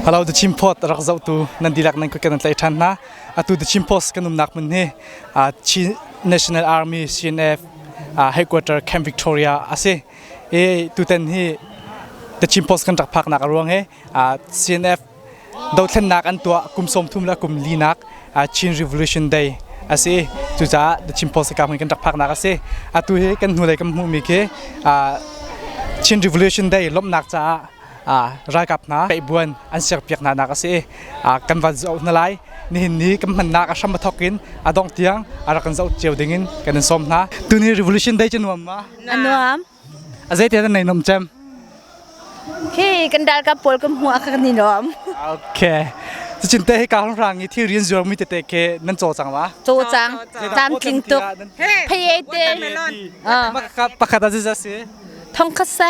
Halo the chim phot rak zoh tu nan dilak nan kan tlai than hna atu the chim post kan umnak mun hi Chin National Army CNF headquarter Camp Victoria asi e tuten hi the chim post kan rak phak nak ruang he CNF dothlennak an tua kum som thum la kum li nak Chin Revolution Day asi cucaah the chim post kam kan rak phak nak asi atu hi kan hnu lei kan hmu mi ke Chin Revolution Day lomnak caah ralkap hna peihbuan an siakpiak hna nak a si kan van zoh hna lai nihin ni kan hmannak a hram a thawk in a dongh tiang a rak kan zoh cio ding in kan in sawm hna tuni revolution dei cu nuam ma a nuam a zeitia nan nei nom cem khi kan dal ka pol kan hmu ka ni nom okay cin te hi ka hong rang i thil rian zuar mi te te ke nan cho chang wa cho chang tam tling tuk phei te ma ka pakhat aziza si thong khasa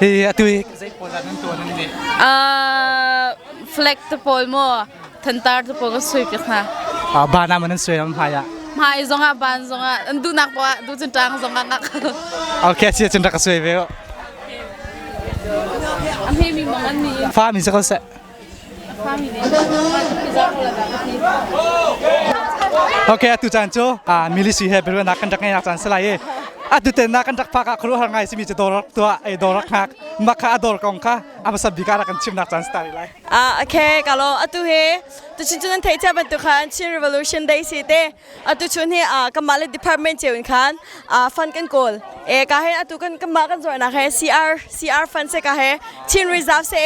Hi atu i zei pawl nan tuan nan ni? Uh, flag te pawl mo thantar te pawl ka sui pe khna. Ah ba na man sui am haya. Mai zong ah ban zong ah an du nak ba du chin tang zong ah ngak. Okay si chin ra ka sui ve. Am hi mi mong an ni. Fa mi se ko se. Okay, atu caan cu milisi he biruanak kan rak ngeinak caan si lai i atu ten nak kan rak phak ah khuaruah har ngai simi cu dawrak tuah ei dawrak nak mah kha a dawr kong kha a masab bika rak kan chimnak caan si tari lai. Ah, okay, kalo atu he tu chin cun an thei cha bantu khan Chin Revolution Day si te atu chun hi kanmah le department ceu in khan fund kan kawl e ka he atu kan kanmah kan zornak he CR CR fund se ka he Chin Reserve se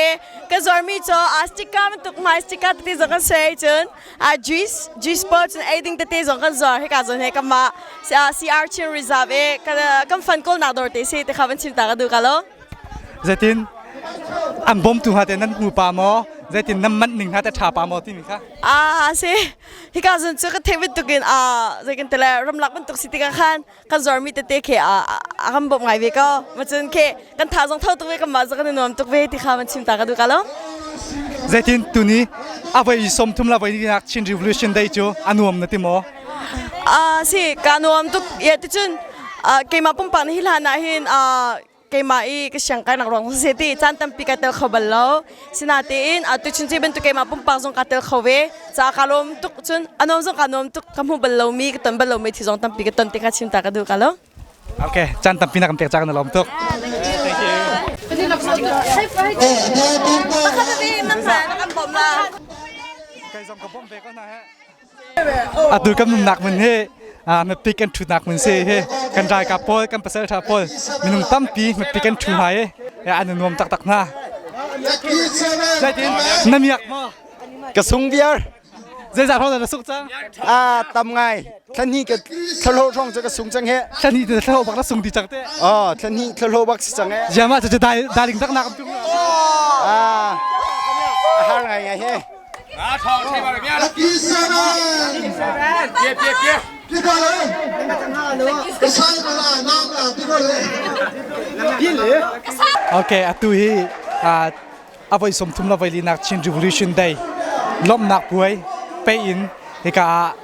ka zor mi cho a sticker man tuk mai sticker te zong kan se chun a juice juice pouch and aiding te zong kan zor he ka zon he kanmah CR Chin Reserve e kan fund kawl nak dor te se te kha ban chin ta ka du ka lo zetin an bom tu ha te nan pu pa mo zetin nan man ning ha ta tha pa mo ti mi kha a se hika zun cu ka theih bantuk in a zei kan tele ramlak bantuk si tikah khan kan zuarmi tete khe a a kan bawm ngai ve ko ma cun khe kan tha zong thau tuk ve kan ma zong kan i nuam tuk ve ti kha man chim ta ka duka lo zeitin tuni avai som thum la vai ni nak chin revolution dei chu anuam na timo a si ka nuam tuk ye ti cun keima pumpak na hi hlan na hin a keimah i ka siang kainak ruang cu se ti caan tampi ka tel kho bal lo sinatein atu chun ci bantuk keimah pumpak zong ka tel kho ve ca ka lawm tuk cun anom zong ka nuam tuk ka hmu bal lomi ka ton bal lomi thi zong tampi ka ton te ka cinta ka duh ka lo Ok, caan tampi na kan pek cak na lawm tuk. Pakhat te nam na kan bom la Kai zong ka bom ve ko na he. Atu kan nunnak mun hi mapik kan ṭhunak mun si hi kan ralkap pawl kan pasalṭha pawl minung tampi mapik kan ṭhu hna i an nuam taktak hna. Na miak maw? Ka sung viar. Zeizat hong na suk cang? A tam ngai. Thlani ka thlalo hong ca ka sung cang he. Thlani te thlalo bak na sung ti cang te. Oh, thlani thlalo bak si cang he. Yama cha cha daling tak na kam tung. Ah. A har ngai ngai he. Okay, atu hi avoi sum thum la voi linak Chin Revolution Day lomnak puai pe in hika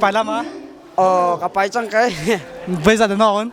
Pai lam ah? Oh, ka pai cang kai. Voi zat na on?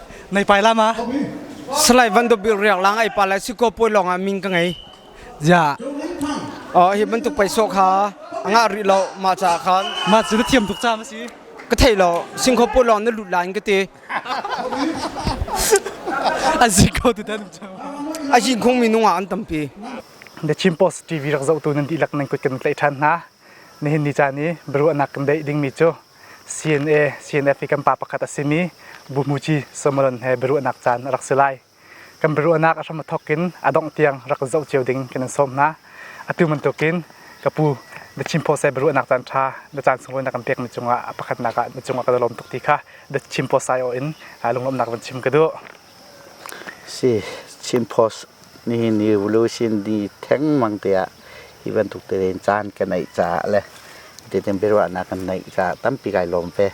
Nai pai lama. Salai Van Do Bil Riang Lang ai pa lai si ko poi long ah min ka ngei. Ja. Oh hi bantuk paisa kha anga ri lo ma cha khan. Ma chu na thiam tuk cha ma si. Ka thei lo sing kho poi long na lut lain ka te. An si ko tu dan cha. A shin khung mi nung ah an tampi. Na Chin Post TV rak zoh tu nan di lak nan kut kan tlai than hna. Nihin ni cha ni baru anak kan dei ding mi chu CNA CNF i kan pa pakhat a simi Bumuci Samaran he biaruahnak caan a rak si lai. Kan biaruahnak a hram a thawk in a dongh tiang rak zoh cio ding kan in sawm hna. Atu bantukin ka pu Biachim Pawse biaruahnak caan ṭha na caan sunglawi na kan pekmi cungah a pakhatnak ah na cungah ka lawm tuk ti kha Biachim Pawsai in lungawmnak van chim ka duh. Si, Chin Post nihin evolution ni thengmang tiah hi bantuk tein caan ka neih caah le titin biaruahnak kan neih caah tampi kai lawm ve.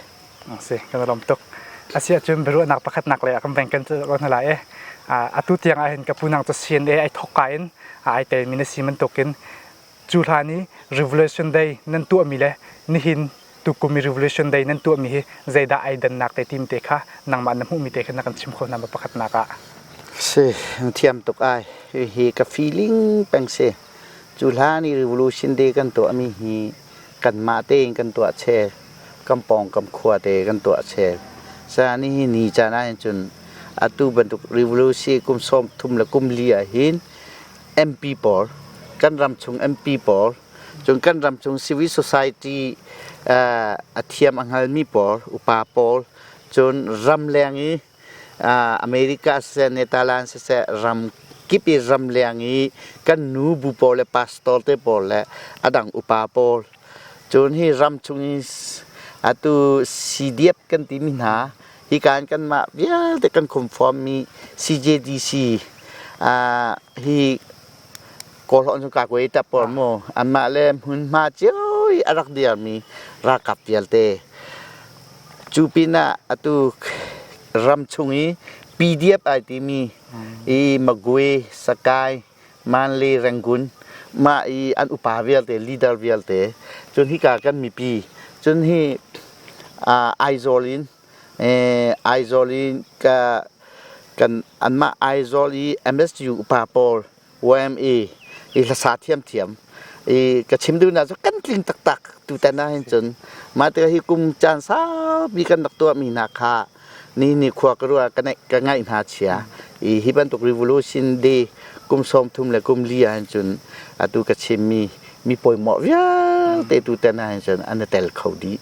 Si, kan lawm tuk. Asiahcun biaruahnak pakhatnak lei ah kan beng kan cut lai lai i atu tiang ahhin ka pu nang cu sin i ai thawkka in ai telmi na si bantukin Cu hlan i Revolution Day nan tuahmi le nihin tukum i Revolution Day nan tuahmi hi zeidah ai dannak te tim te kha nangmah na hmuhmi te kha na kan chim kho hna ma pakhatnak ah? Si, thiam tuk ai. Hi ka feeling peng si. Cu hlan i Revolution Day kan tuahmi hi kanmah tein kan tuah chel. Kan pawng kam khua te kan tuah chel. Sa nihin ni caan ahhin cun atu bantuk revolution kum sawm thum le kum li ahhin MP pawl kan ram chung MP pawl cun kan ram chung civil society uh, a thiam a hngalmi pawl upa pawl cun ram leng i uh, America siseh Netherlands siseh ram kip i ram leng i kan nu bu pawl le pastor te pawl le adang upa pawl Cun hi ram chung i atu CDF kan timi hna hika in kanmah vialte kan conformmi CJDC ah hi Kawlhawn cu Kagwe i tap pawl mu anmah le hmunhma cio i a rak dirmi ralkap vialte cu pinah atu ram chung i PDF ai timi i Magwe, Sakai Manle Rangoon, mah i an upa vialte leader vialte cun hika kan mipi cun hi Aizawl in Aizawl in kan anmah Aizawl i MSU upa pawl YMA i hlasa thiamthiam i ka chim duhnak cu kan tling taktak tutan ah hin cun mah tikah hi kum caan saupi kan rak tuahmi hna kha ni nikhua ka ruah ka ka ngaih hna chia i hi bantuk revolution de kum sawm thum le kum li ah hin cun atu ka chim mi mi poimawh vialte tu ten ah hin cun an i tel kho dih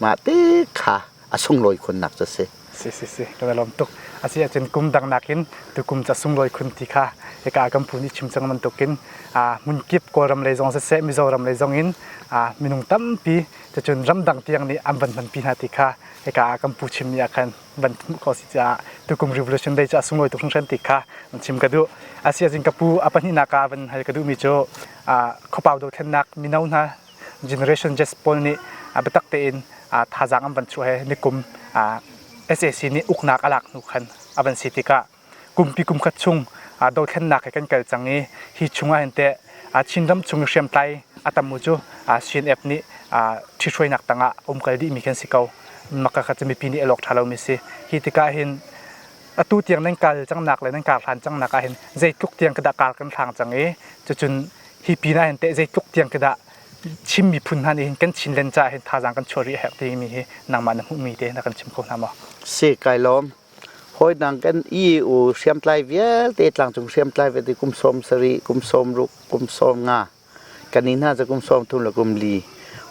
mah te kha a sunglawi khunnak cu si si si si ka lawm tuk asi ahcun kum dang nakin tu kum ca sunglawi khun ti kha ika kan phu nih chim cang bantukin a mun kip kawlram lei zong siseh mizoram lei zong in a minung tampi cun ramdang tiang nih an van hman pi hna ti kha hika ah kan pu chim ni ah khan van hmuh ko si caah tukum revolution day cu a sunglawi tuk hringhran ti kha van chim ka duh asi azin ka pu a pahnihnak ah van hal ka duh mi cu khopau dothlennak mino hna generation just pawl nih biatak tein thazaang an van chuah he nikum SAC nih uknak a lak hnu khan a van si tikah kumpi kumkhat chung aa dothlennak he kan kal cang i hi chungah hin teh Chinram chung i hriamtlai a tamu cu CNF nih ṭhithruainak tangah umkal dihmi khi an si ko. Makakhat cu mipi nih elawk ṭha lomi si. Hi tikah hin atu tiang nan kal cangnak le nan kar hlan cangnak ahhin zeitluk tiang ka dah kar kan hlang cang i cucun hi pinah hin teh zeitluk tiang ka dah Chin miphun hna nih hin kan chin len caah hin thazaang kan chuah rih a herh timi hi nangmah na hmuhmi te na kan chim kho hna maw? Si kai lawm. hawi dang kan i u hriamtlai vialte tlangcung hriamtlai vialte kum sawm sari kum sawm ruk kum sawm nga kan i hna cu kum sawm thum le kum li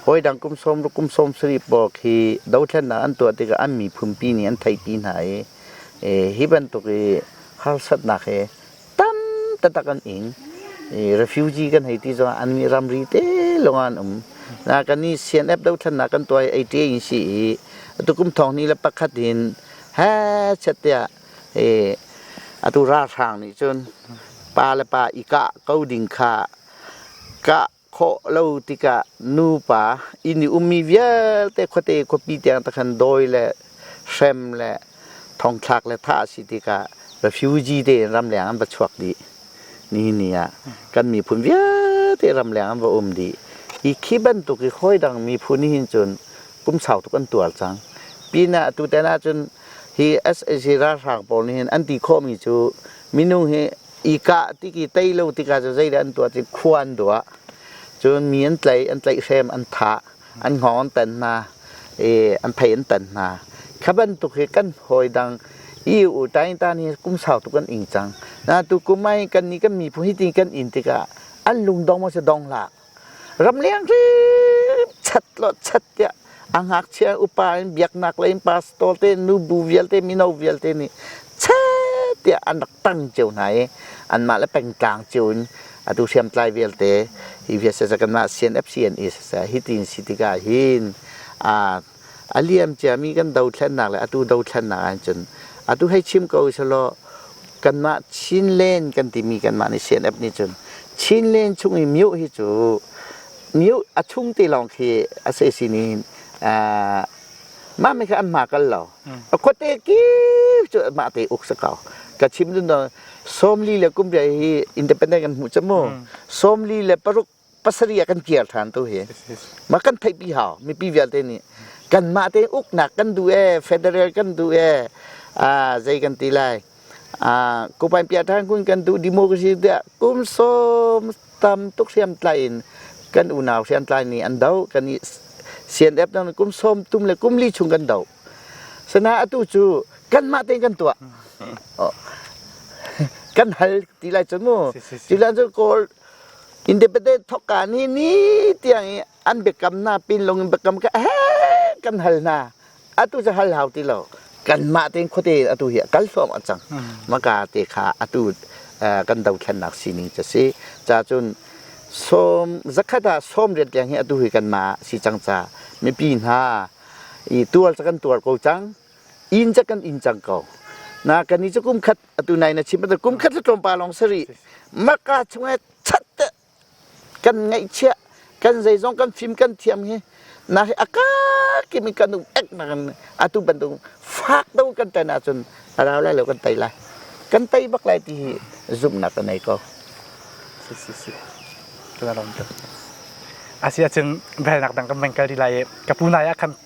hawi dang kum sawm ruk kum sawm sari pawk hi dothlennak an tuah tikah an miphunpi nih an theihpi hna i e, hi bantuk i harsatnak hi tam taktak an ing i refugee kan hei ti zong an nih ramri te lawng an um na kan i CNF dothlannak kan tuai ATA in si i atu kum thong ni le pakhat in he chet tiah i atu ralhrang nih cun pa le pa i kah ko ding kha kah khawh lo tikah nupa inn i ummi vialte khuate khuapi tiang te khan dawi le hrem le thongthlak le thah a si tikah refugee te in ramleng an va chuak dih ni ni ah kan miphun vialte ramleng an va um dih hi khi bantuk i hoi dang miphun hin cun kum sau tuk an tuar cang pinah atu ten ahcun hi SAC ralhrang pawl nih hin an ti khawhmi cu minung hi i kah ti ki tei lo tikah cu zeidah an tuah cu khua an duah cun mi an tlaih an tlaih hrem an thah an hngawng an tan hna i an thei an tan hna kha bantuk hi kan hawi dang i u tain tan hi kum sau tuk kan ing cang na tu kumai kan ni kan mi phu hi ti kan in tikah an lung dong maw si dong hlah Ramleng hrim chat lo chat tiah a ngakchia upa in biaknak lei in pastor te nubu vialte mino vialte nih chet tiah an rak tang cio hna i anmah le pengtlang cio in atu hriamtlai vialte hi vialte kanmah CNFC NE siseh hitin si tikah hin aa a liam ciami kan dothlennak le atu dothlennak ah cun atu hei chim ko selaw kanmah Chin Lane kan timi kanmah nih CNF nih cun Chin Lane chung i mioh hi cu mioh a chung te lawng khi a si sin in mah me kha an hma kal lo a khuate kip cu mah te uk sa ko ka chim dun sawmli le kumriah hi independent kan hmu cha mu sawmli le paruk pasarih ah kan kir ṭhan tu hi ma kan theih pi hau mipi vialte nih kanmah te uknak kan duh e federal kan duh e ah zei kan ti lai ah kupain pia ṭhan kun kan duh democracy tiah kum som tam tuk hriam tlai in kan unau hriam tlai nih an do kan i CNF dang kum som tum le kum li chung kan do sana atu cu kanmah te kan tuah kan hal ti lai cun mu ti lan cu kawl Independent thawkka ni ni tiang i an biakam hna pinlung in biakam kha he kan hal hna. Atu cu hal hau ti lo. Kanmah tein khuate in atu hi a kal hluahmah cang. Maka te kha atu uh, kan dothlennak sining cu si. Ca cun sawm zakhat ah sawm rian tiang hi atu hi kanmah si cang ca mipi hna i tuar ca kan tuar ko cang. In ca kan in cang ko. Na kan ni cu kum khat atu nai na chim kum khat tlawm pa lawng sari maka chunga chat te kan ngaihchia kan zeizong kan film kan thiam hi na hi aka kim kan ek na kan atu bandung fak do kan tai na chun rau lai lo kan tai lai kan tai bak lai ti hi zoom na kan nei ko si si si kala ram tu asia ching bel nak dang kan mengkal di lai kapunai akan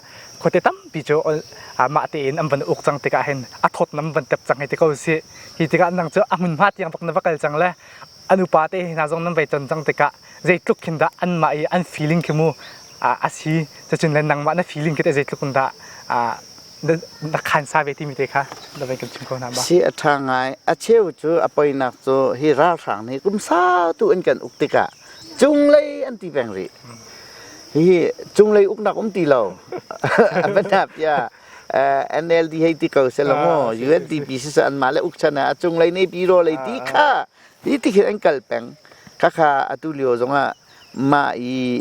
khuate tampi cu mah tein an van uk cang tikah hin a thawtnam van tep cang hei ti ko si hi tikah nang cu a hmunhma tiang bak na va kal cang le an upa te hna zong nan vai ton cang tikah zeitluk khin dah anmah i an feeling khi mu a si cacun le nangmah na feeling khi zeitluk in dah na khan sa ve timi te kha da vai kan chim ko na ba si a tha ngai a cheu cu a poinak cu hi ralhrang nih kum sa tu in kan uk tikah cunglei an ti peng rih. Hihi cunglei uknak um ti lo. Banapia NLD hei ti ko selaw maw UNDP si sa anmah le ukchan ah a cunglei nei pi raw lei ti kha ti ti hin an kal peng. Khakha atu lio zongah mah i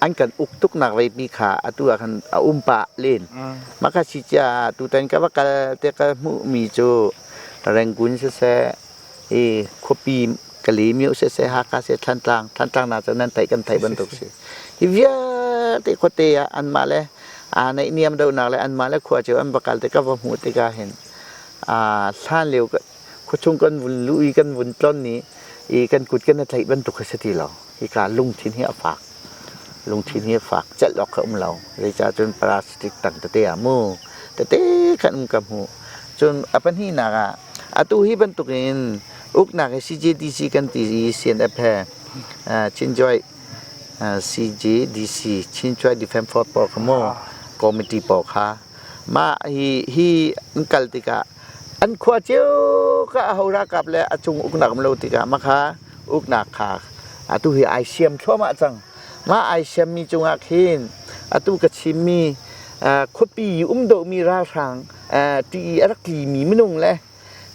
an kan uk tuknak vei mi kha atu ah khan a um pa len. Mah ka si cia tutan ka va kal te ka hmuh mi cu Rangoon si seh i khuapi ka li mio sese Haka se Thantlang Thantlang na cu nan theih kan theih bantuk si hi vialte khuate ah anmah le aa neih niam donak le anmah le khua cu an va kal te ka va hmu tika hin a hlan lio khuachung kan vun luh i kan vun tlon ni i kan kut kan i theih bantuk khi si ti lo Hika lungthin hi a fak. Lungthin hi a fak. Celh awk a um lo. Zeicah cun plastic tang tete ah mu tete khan um ka hmu. Cun a pahnihnak ah atu hi bantuk in uknak hi CJDC kan ti i CNF he Chinjoy CJDC Chinchoy Defense Force pawl kha mu committee pawl kha mah hi hi an kal tikah an khua cio ka ahora kap le a cung uknak um lo tikah maka uknak kha atu hi ai siam thluahmah cang mah ai siammi cungah khin atu ka chimmi khuapi um dohmi ralhrang tii a rak tlimi minung le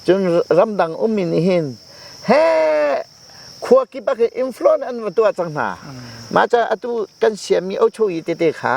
cun ramdang um in hin he khua kip ah khin influence an va tuah cang hna mah ca atu kan siammi ocho i tete kha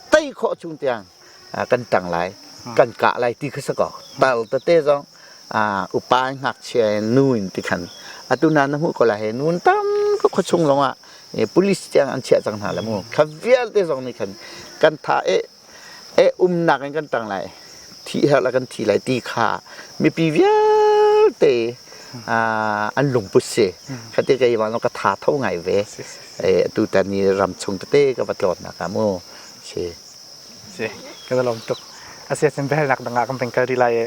tei khawh chung tiang kan ṭang lai kan kah lai ti kha si ko tal tete zong upa in ngakchia nu in ti khan atu na na hmuh ko la he nu tam ka khua chung lawngah police tiang an chiah cang hna la mu kha vialte zong nih khan kan tha e e umnak in kan tang lai thi her la kan thi lai ti kha mipi vialte an lungput si khati ka iwan ka tha tho ngai ve tutan i ram chung tete ka va tlawnnak ah mu si si ka va lawm tuk asi ahcun biahalnak dang ah kan van kal rih lai i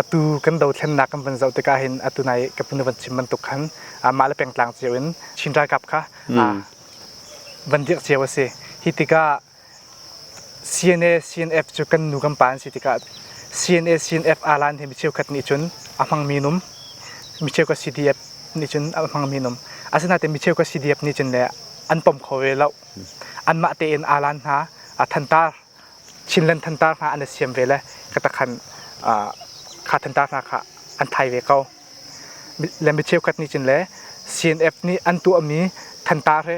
atu kan dothlennak kan van zoh tikah hin atu nai ka pinu van chim bantuk khan mah le pengtlang cio in Chin ralkap kha van dirh cio asi hi tikah CNA CNF cu kan nu kan pa an si tikah CNA CNF alan hi mi cheukhat nih cun a hmangmi num mi cheukhat CDF nih cun a hmangmi num asinain mi cheukhat CDF nih cun le an pom kho ve lo anmah tein alan hna a thantar Chinland thantar hna an i siam ve le ka takhan kha thantar hna kha an thai ve ko le mi cheukhat nih cun le CNF nih an tuahmi thantar he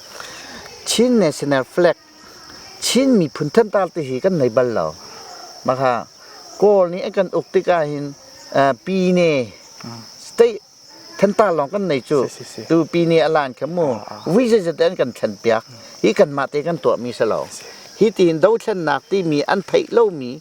Chin National Flag Chin miphun thantar te hi kan nei bal lo. Maka Kawl nih a kan uk tik ahhin uh, Pine state thantar lawng kan nei cu. Si, si, si. Tu Pine a lan kha mu vui zeizate an kan thlen piak. Hi kan mah te kan tuahmi si lo. Hi tiin dothlennak timi an theih lomi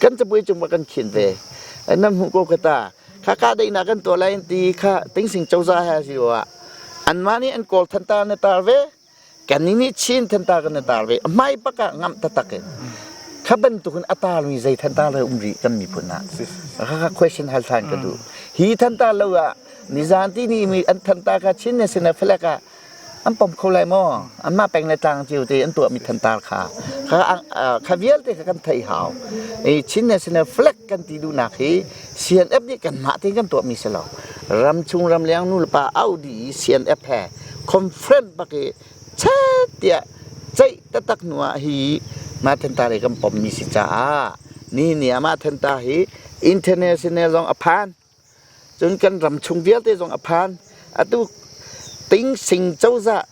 kan capui cung kan khin ve nan hmuh ko khata kha ka deinak kan tuah lai ti kha tingsing coza ha si wa anmah nih an kawl than ta na tar ve kan ni nih chin than ta kan na tar ve mai paka ngam ta tak in kha bantuk in atar mi zei than ta le um ri kan mi phun na kha question hal than ka du hi than ta lo a nizan ti ni mi an than ta ka chin ne sina phlaka an pom kho lai maw anmah peng le tlang cio te an tuahmi thantar kha kha kha vialte kha kan theih hau i Chin National Flag kan ti duhnak hi CNF nih kan mah te kan tuahmi si lo ram chung ram leng nu le pa Audi CNF he conference bak i chat tiah ceih tatak nuah hi ma thantar i kan pommi si caah ni ni ah ma thantar hi international zong a phan Cun kan ram chung vialte zong a phan. Atu Tingsing cozah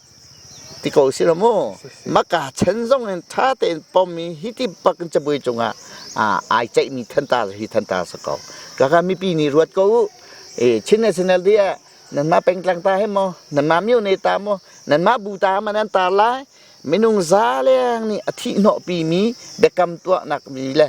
ti ko si lo mu. Maka chan zong in ṭha tein pom i hi ti bak in cabuai cungah ah ai ceihmi thanta hi thanta si ko. Kaka mipi nih ruat ko u. E, Chin National Day ah nanmah pengtlang ta he maw, nanmah myo ne ta maw, nanmah bu ta ma nan tar lai. Minung zaleng nih a thih hnawhpi mi biakam tuahnak mi le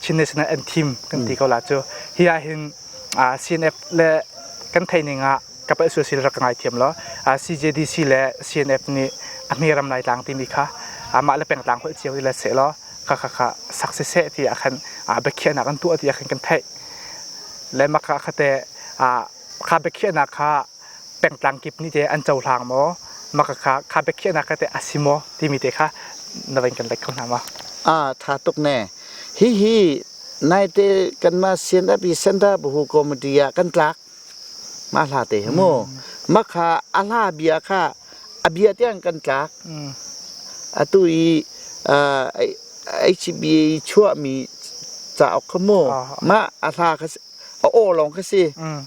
Chin National Anthem kan ti ko la cu hi ah hin CNF le kan thei ning ah kapal suasil rak ngai thiam law CJDC le CNF nih a hme ram lai tlang timi kha amah le pengtlang holh cio i le seh law kha kha kha sak se seh ti ah khan biakhiahnak an tuah ti ah khan kan theih le maka khate kha biakhiahnak kha pengtlang kip nih te an cohlang maw makakha kha biakhiahnak kha teh a si maw timi te kha na van kan let kho hna maw a tha tuk ne hihi naite kanmah CNF center buhu committee ah kan tlak ma hla te he mu makha a hla bia kha a bia tiang kan tlak atu i HBA chuahmi cauk kha mu mah a hla kha a aw lawng khi si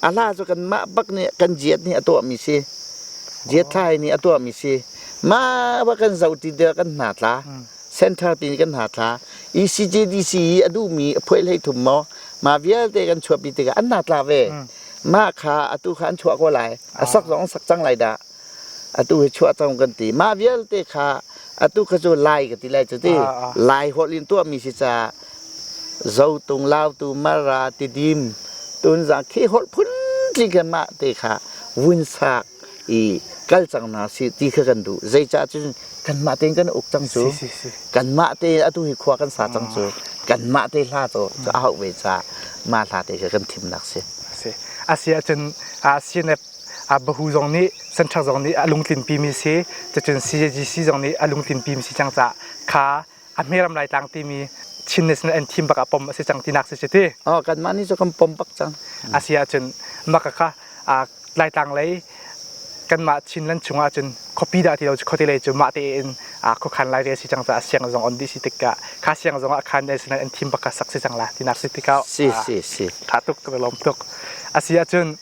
a hla cu kan mah bak nih kan jiat nih a tuahmi si jiat thlai nih a tuahmi si mah ba kan zoh ti der kan hna tla center pi nih kan hna tla ECJDC i a duhmi a phuai hlei thum maw ma vialte kan chuahpi tikah an hna tla ve mah kha atu kha an chuah ko lai a sak zong an sak cang lai dah atu hi chuah cang kan ti mah vialte kha atu kha cu lai ka ti lai cu ti lai holh in tuahmi si ca zotung lautu mara tidim tunzang khi holh phun kan mah te kha vun sak i kal cang na si ti kha kan duh zeicah cun kan mah tein kan uk cang cu kan mah te atu hi khua kan sa cang cu kan mah te hla to cu a hau ve ca mah hla te kha kan thim nak si asi asi ahcun CNF Bahu zong nih Central zong nih a lungtlinpi mi si cacun CJC zong nih a lungtlinpi mi si cang cah kha a hmeram Laitlang timi Chin National Anthem bak ah pom a si cang tinak si cuti. Oh, kanmah nih cu kan pom bak cang. A si ahcun maka kha Laitlang lei kanmah Chinland chung ahcun khuapi dah ti lo cu khuate lei cu mah te in khuakhan lai ve si cang cah siang zong on di si tik ah kha siang zong ah khan National Anthem bak ah sak si cang la tinak si tik ah si si si tha tuk ka lawm tuk a si ahcun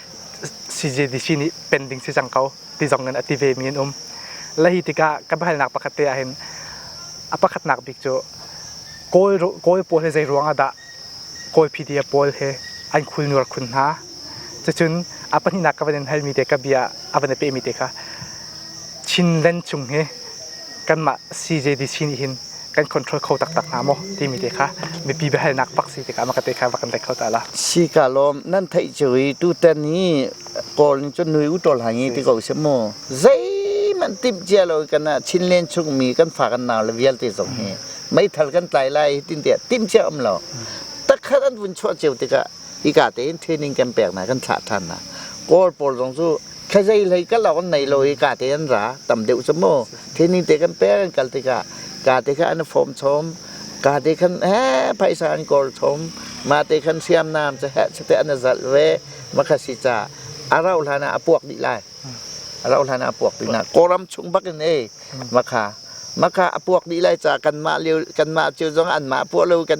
CJDC nih pending si cang ko ti zong in a ti ve mi an um la hi tikah kan halnak pakhat te ahhin a pakhatnak bik cu kawl kawl pawl he zei ruang ah dah kawl pdf pawl he an khul nur khun hna cucun a pahnihnak ka van in hal mi te ka bia a van i peh mi te kha Chin Len chung hi kanmah CJDC nih hin kan control kho taktak hnga maw timi te kha mipi biahalnak pak si tikah maka te kha va kan tei kho ta la. Si ka lawm nan theih cu i tutan hi kawl ning cu nui u tol hangi ti ko se mu zeihmanh timh cia lo kan ah chin len chung mi kan fa kan nau le vialte zong hi meithal kan tlai lai tin tiah timh cia um lo takhat an vun chuah cio tikah hika tein training kan pek na kan thlah than na kawl pawl zong cu Khazei hlei ka lawng nei lo i ka te an ra tam deuh cu mu thini te kan pe kan kal tikah ka te kha an form chom ka te khan he phaisa an kor chom ma te khan siam nam cu he chate an zalh ve makha si ca a rau hlan ah a puak dih lai a rau hlan ah a puak dih na kawram chung bak in ei makha makha a puak dih lai ca kan mah lio kan mah cio zong an mah puah lo kan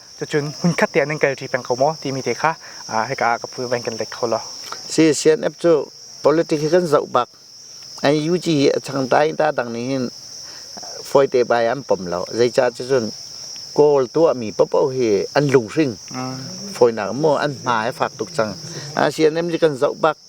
Cucun hmunkhat te ah nan kalṭi peng ko maw timi te kha hika ah ka pu van kan let kho lo. CCNF cu politics hi kan zoh bak. NUG hi a changta in ta dang nih hin fawite bai an pom lo. Zeicah cun kawl tuahmi popoh hi an lunghring. Fawinak mu an hma he fak tuk cang. CNM hi kan zoh bak.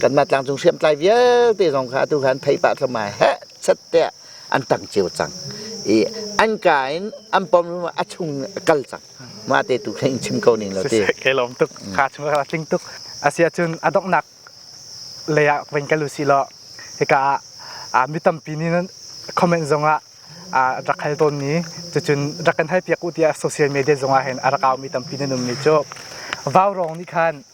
kanmah tlangcung hriamtlai vialte zong kha atu khan thei pah thluamai heh set tiah an tang cio cang i an ka in an pom a chung kal cang ma te tu kha in chim ko ning lo ti ke lom tuk kha chung ka tling tuk asia cun adongnak lei ah ven ka lu si lo hika ah mi tampi nih comment zong ah rak hal tawn ni cucun rak kan hal piak u tiah social media zong ah hin a rak au mi tampi nan um mi cu vau rong nih khan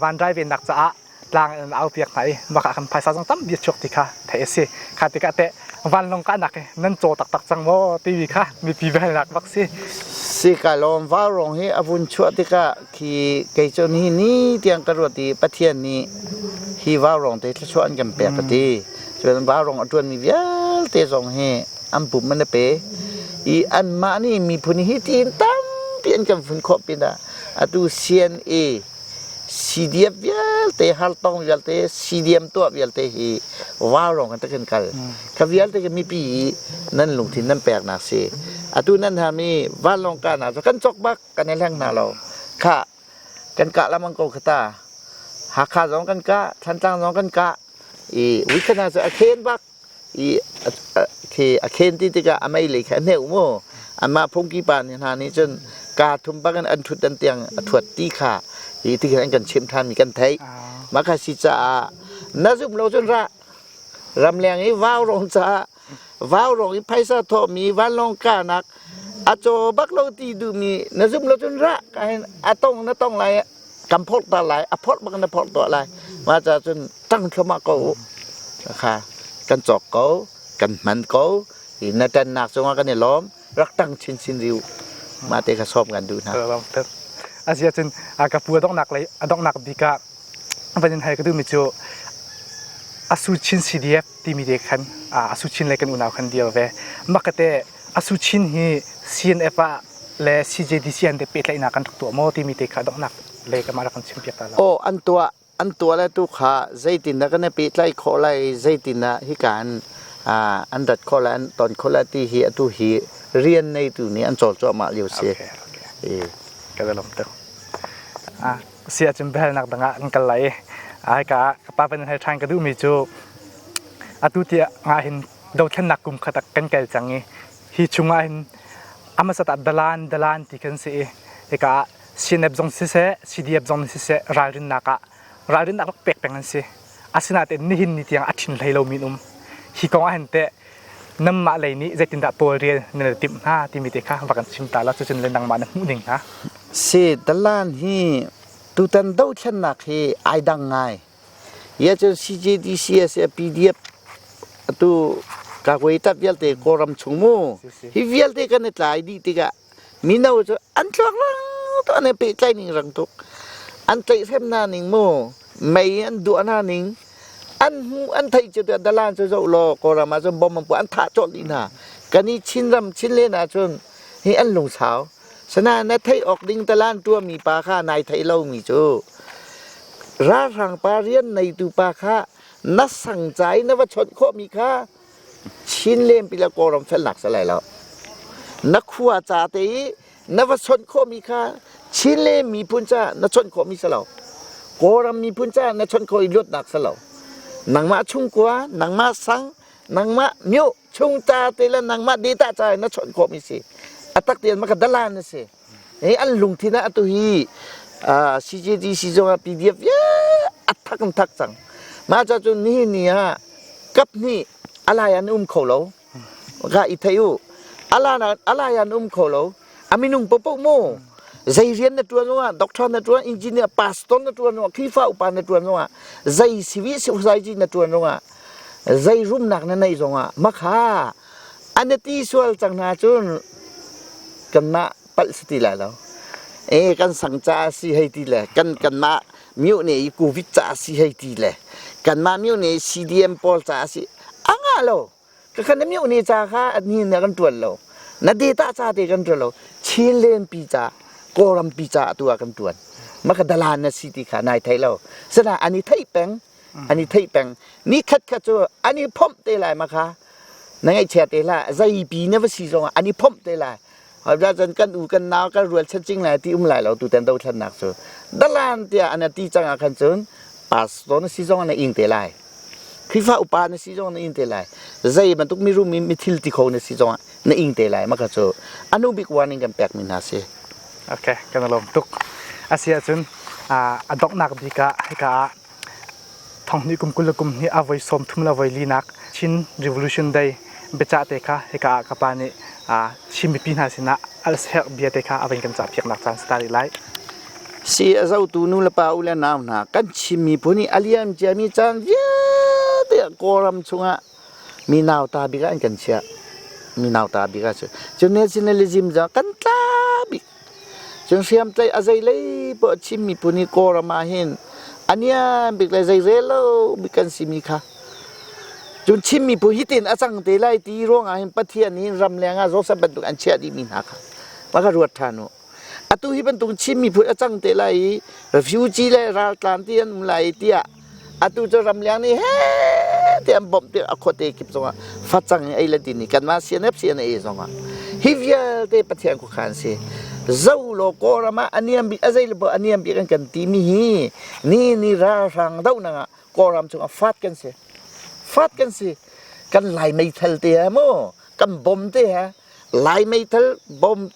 van drai venak caah tlang in au piak hna i maka kan phaisa zong tam bia chuak ti kha theih a si kha tikah teh vanlong kahnak hi nan caw taktak cang maw tivi kha mipi velnak bak si si ka lawm vaurong hi a vun chuah tikah khi kei cu ni ni tiang ka ruat i pathian nih hi vaurong te thluachuah an kan pek ka ti cun vaurong a tuan mi vialte zong hi an pum man a pe i anmah nih miphun hi tiin tampi an kan fun khawh pinah Atu CNA CDF vialte hartong vialte CDM tuah vialte hi vaurawng in takin kal kha vialte kan mipi nan lungthin nan pek nak si atu nan ha mi vanlawng ka na kan chok bak kan i hleng hna lo kha kan kah lamang ko khata Hakha zong kan kah Thantlang zong kan kah i wikhana cu a khen bak i a khen ti tikah a meilei kha a hneuh maw anmah phungki pa nih hna nih cun kaa thum bakin an ṭhut an tiang a thuat ti kha hi ti khin an kan chimh ṭhanmi kan theih mah kha si caah na zumh lo cun ra ramleng i vaurong caah vaurong i phaisa thawhmi vanlawng kahnak a caw bak lo ti duhmi na zumh lo cun ra ka hin a tong na tong lai kan phorh ta lai a phorh bak in a phorh tuah lai mah ca cun ṭang thluam ah ko u kha kan cawk ko kan hman ko i na ṭannak cungah kan i lawm rak ṭang chinchin riu mah te kha sawm kan duh hna a zia cun ka pu a donghnak lei a donghnak bik ah van in hai ka duhmi cu asu chin cdf timi te khan asu chin lei kan unau khan dir ve mah ka te Asuchin hi CNF ah le CJDC an de pehtlaihnak kan rak tuah maw timi te kha donghnak lei kamah rak kan chim piak ta lo. Aw an tuah an tuah le tu kha zeitin dah kan i pehtlaih khawh lai zeitin ah hika an an rat khawh lai an ton khawh lai ti hi atu hi rian neitu nih an cawl cuahmah lio si. Okay, okay. Ka lom tu. Ah si ahcun behalnak dang ah an kal lai. Ai ka ka pa ban hai than ka duh mi cu atu ti nga hin dothlennak kum khat ah kan kel cang i hi chungah hin amasat ah dalan dalan ti kan si i hika ah CNF zong siseh CDF zong siseh ralrinnak ah ralrinnak rak pek peng an si asinain nihin ni tiang a thin hlei lo min um hi kong ah hin teh nammah lei nih zeitindah pawl rial na timh hna timi te kha va kan chim ta la cucun le nangmah na hmuh ning hna si dalan hi tutan dothlennak hi ai dang ngai Hiahcun CJDCS i a PDF atu Kagwe tap vialte Kawlram chung mu hi vialte kan i tlai dih tikah mino cu an tluanglang to an i pehtlai ning rang tuk an tlaih hrem hna ning mu mei an duah hna ning an hmu an theih cu tiah dalan cu zoh law Kawlram ah cun bomb an puah an thah colh dih hna kan i Chinram Chinlen ah cun hi an lungsau Sanain na theih awk ding talan tuahmi pa kha nai theih lomi cu ralhrang pa rian neitu pa kha na sangca i na va chawnh khawhmi kha chin lempila kawlram felnak si lai lo na khua ca te i na va chawnh khawhmi kha chin le miphun ca na chawnh khawhmi si lo kawlram miphun ca na chawnh khawh i luatnak si lo nangmah chungkua nangmah sang nangmah myo chung ta te le nangmah de ta ca na chonh khawh mi si atak te ma ka dalan na si hi an lungthin ah atu hi CJDC zong ah PDF ya athak an thak cang ma cha cu ni ni ah kap ni alai an um kho lo ga i thei u ala alai an um kho lo a minung popoh mu zei rian na ṭuan zongah doctor na ṭuan engineer pastor na ṭuan zongah khrifa upa na ṭuan zongah zei civil society na ṭuan zongah zei rumnak na neih zongah makha an i ti sual cang hna cun kan mah palh si ti lai lo e kan sang ca si hei ti le kan kan mah miu ne i covid ca si hei ti le kan mah miu ne i CDM pawl ca si a ngah lo ka khan mi uni ca kha adni na kan tuan lo na data ca te kan tuan lo chin len pi ca kawram pi ca tu a kan tuan ma ka dalan na si ti kha nai thei lo sana ani thei peng ani thei peng ni khat kha chu ani phomh te lai ma kha na ngei chia te la zai pi na va si zong ani phomh te lai cun kan u kan nau kan rualchan cing lai ti um lai lo tu ten dothlannak cu dalan tiah an ti cang ah khan cun pastor na si zong na ing te lai khifa upa na si zong na ing te lai zei bantuk mi rum mi thil ti kho na si zong na ing te lai ma kha cu anu big warning kan pek mi hna si okay kan lom tuk asi ahcun a donghnak bik ah hika ah Thanghnih kum kul le kum hnih a voi sawm thum le voi linak Chin Revolution Day biacah te kha hika ah ka pa nih Chin mipi hna sinah al serh bia te kha a vun kan cah piaknak caan si ta rih lai. Si a zotu nu le pa u le nau hna kan Chin miphun i a liam ciami caan vialte ah Kawlram chungah mi nauta bik ah an kan chiah. Mi nauta bik ah cu cun nationalism cu kan tla bik Cun hriamtlaih a zeilei poah chimmi pu nih Kawlram ah hin a niam bik le zeirel lo bik kan simi kha cun chimmi pu hitin a cang te lai ti ruangah hin Pathian nih ramleng ah Joseph bantuk an chiah dihmi hna kha va ka ruat ṭhan u. Atu hi bantuk chimmi phun a cang te lai i refugee le raltlan ti an um lai tiah atu cu ramliang nih he te an bawmh ti a khuate kip zongah facang in ei le din i kanmah CNF CNA zongah hi vialte Pathian khuakha an si zo law Kawlram ah a niam bik a zei le a niam bik an kan timi hi ni ni ralhrang dohnak ah Kawlram chungah fat kan si fat kan si kan lai meithal te ha maw kan bom te ha lai meithal bom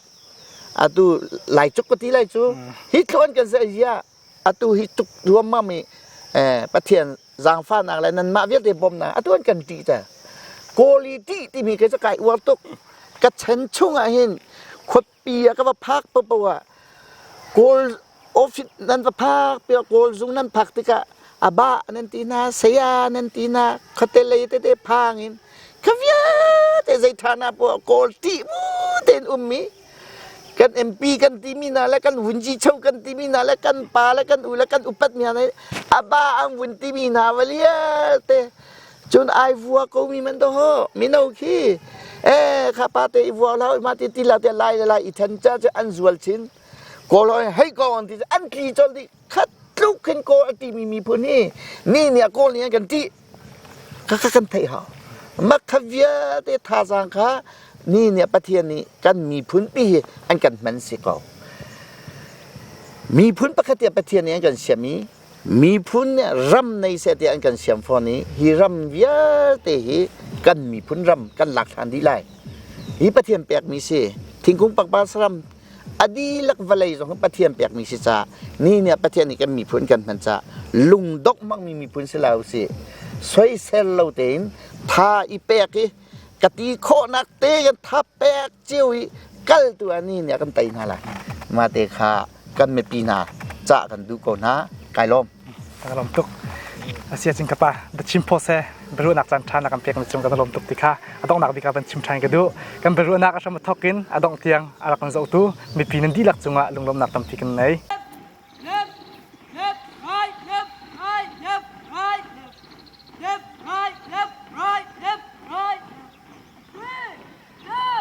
atu lai cuk pati lai cu hi tlawn kan se ya atu hi tuk ruammam i Pathian zaangfahnak le nanmah vialte bawmnak atu an kan ṭih te kawli ṭih timi kei cu kai uar tuk ka chan chung ah hin khuapi ah ka va phak popo ah kawl office nan va phak piak kawl zung nan phak tikah a ba nan ti na saya nan ti na khuate lei tete phang in ka viate zei ṭhana poah kawl ṭih mu tein um mi kan MP kan timi hna le kan vun chicho kan timi hna le kan pa le kan u le kan upat mi hna aba ang vun timi hna valialte cun ai vua ko mi man do ho mino khi eh kha pa te i vua lau ma ti ti la te lai le lai i than cha che an zual chin ko lo hei ko on ti an tli chol ti khat tluk khin ko ati mi mi phun hi ni ni ko ni kan ti Kha kan theih hau. Makha vialte thazaang kha mi nih Pathian nih kan miphunpi hi an kan hman si ko. Miphun pakhat hi Pathian nih an kan siam i miphun nih ram nei seh ti an kan siam fawn i hi ram vialte hi kan miphun ram kan lak ṭhan dih lai. Hi Pathian pekmi si. Thingkung pakpa saram a dihlak vawlei zong kan Pathian pekmi si ca ni ni ah Pathian nih kan miphun kan hman ca lungdok hmangmi miphun si lo si soisel lo tein tha i pek i ka ti khawhnak te kan tha pek cio i kaltu a ni ni ah kan tei hna lai mate kha kan mipi hna ca kan duh ko hna kai lawm ka lawm tuk asi acun ka pa va chim phaw se biaruahnak caan ṭha na kan pekmi cung ka va lawm tuk ti kha a donghnak bik ah van chim ṭhan ka duh kan biaruahnak a hram thawk in a dongh tiang a rak kan zohtu mipi nan dihlak cungah lunglawmnak tampi kan nei Right, left, right, left, right. Three, two,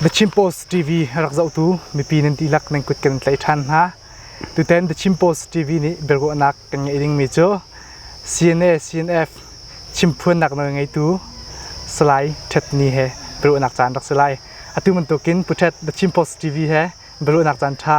The Chin Post TV rak zohtu mipi nan dihlak nan kut kan tlaih ṭhan hna. Tutan The Chin Post TV nih biaruahnak kan ngeih dingmi cu CNA CNF chimphuannak nawlngeitu Salai Htet Ni he biaruahnak caan rak si lai. Atu bantukin Pu Htet The Chin Post TV he biaruahnak caan ṭha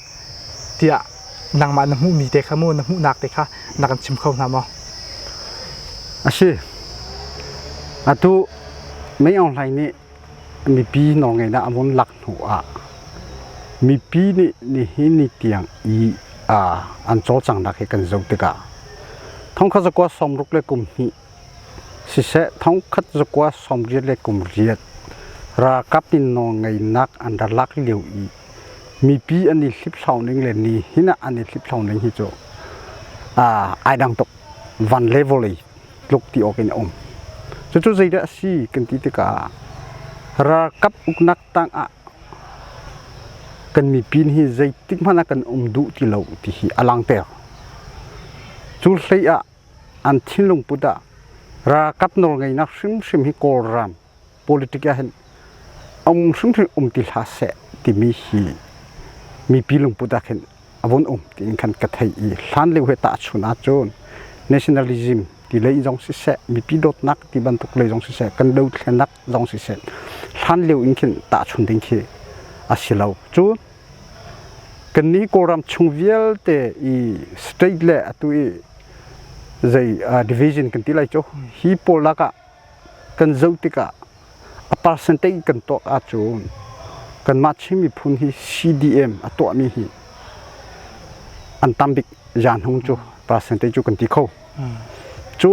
tiah nangmah na hmuhmi te kha maw na hmuhnak te kha na kan chim kho hna maw? A si. Atu Mei Aung Hlaing nih mipi nawlngeihnak a vun lak hnu ah mipi nih nihin ni tiang i an cawlcanghnak hi kan zoh tikah thongkhat zakua sawmruk le kum hnih siseh thongkhat zakua sawmriat le kum riat ralkap in nawlngeihnak an rak lak lio i mipi an i hliphlau ning le ni hin ah an i hliphlau ning hi cu ai dang tuk van le vawlei tluk ti awk in a um cucu zeidah a si kan ti tikah ralkap uknak tang ah kan mipin hi zeitik hmanh ah kan um duh ti lo ti hi a langter cu hlei ah an thinlung put ah ralkap nawlngeihnak hrimhrim hi kawlram politic ah hin a um hringhran um ti hlah seh timi hi mipi lungput ah khin a vun um tiin khan ka thei i hlan lio he tahchun ahcun nationalism ti lei zong siseh mipi dawtnak ti bantuk lei zong siseh kan dothlenak zong siseh hlan lio in khin tahchun ding khi a si lo cu kan ni kawlram chung vialte i state le atu i zei division kan ti lai cu hi pawl lakah kan zoh tikah a percentage kan tuah ahcun kanmah Chin miphun hi CDM a tuahmi hi an tam bik zaan hung cu percentage cu kan ti kho cu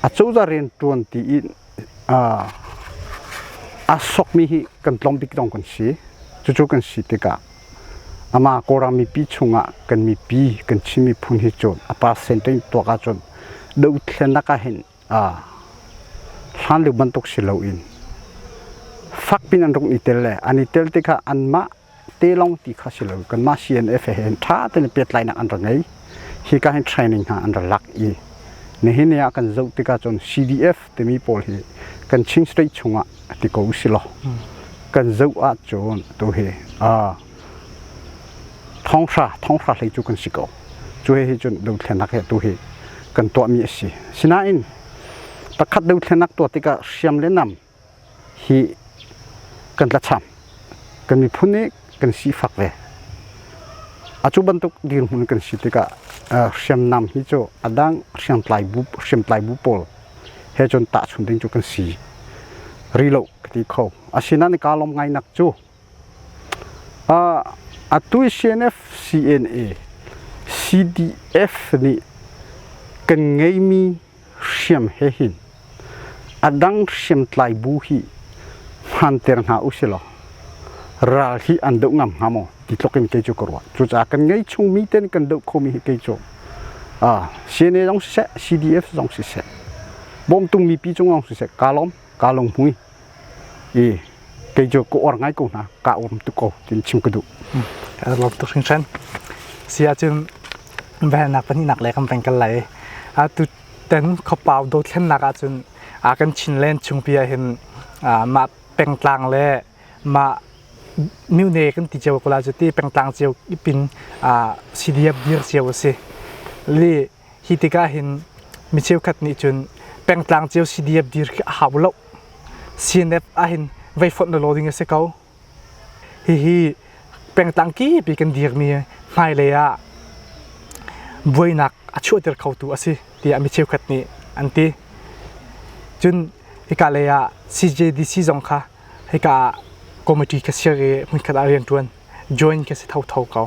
a cozah rian ṭuan ti in aa sokmi hi kan tlawm bik dong kan si cucu kan si tikah amah Kawlram mipi chungah kan mipi kan Chin miphun hi cun a percentage tuak ahcun dohthlennak ah hin hlan lio bantuk si loin fakpin an rung i tel le an i tel tikah anmah te lawng ti kha si lo kanmah CNF he hin ṭha tein pehtlainak an ra ngei hika hin training hna an ra lak i nihin ni ah kan zoh tikah cun CDF timi pawl hi kan Chin State chungah ti ko usilaw kan zoh ah cun tu hi Thawnghrra thawnghrra hlei cu kan si ko. Cu he cun dothlenak hi tu hi kan tuahmi a si. Sinain pakhat dothlenak tuah tikah hriam le nam hi kan tlacham. Kan miphun nih kan sifak ve. A cu bantuk dirhmun kan si tikah hriamnam hi cu a dang hriamtlai bu hriamtlai bu pawl he cun tahchunh ding cu kan si rih lo ka ti kho. Asinain kaa lawm ngainak cu A tuisenef CNA CDF nih kan ngeimi hriam he hin a dang hriamtlai bu hi hmanter hna usilaw ral hi an doh ngam hnga maw ti tluk in kei cu ka ruah. Cucaah kan ngei chungmi ten kan doh khomi hi kei cu CNA zong siseh CDF zong siseh bawmtungmi pi cung zong siseh kaa lawm. ka long pui i kei cu ka or ngai ko hna ka om tu ko tin chim ka duh lo tuk hring sen sia cun van nak pahnih nak le kan peng kal lai a tu ten khopau do thlen nak ah cun a kan chin len chung pia hin ma pengtlang le ma miune kan ti ceu kula cu ti pengtlang ceu ipin sidiab dir ceu a si li Hi tikah hin mi cheukhat nih cun pengtlang cio CDF dir khi a hau lo. CNF ahhin vei fonh lo ding a si ko. Hihi pengtlang kipi kan dirmi hmailei ah buainak a chuahter khotu a si tiah mi cheukhat nih an ti. Cun hika lei ah CJDC zong kha hika committee ka sir i hmunkhat ah riantuan join ka si tho tho ko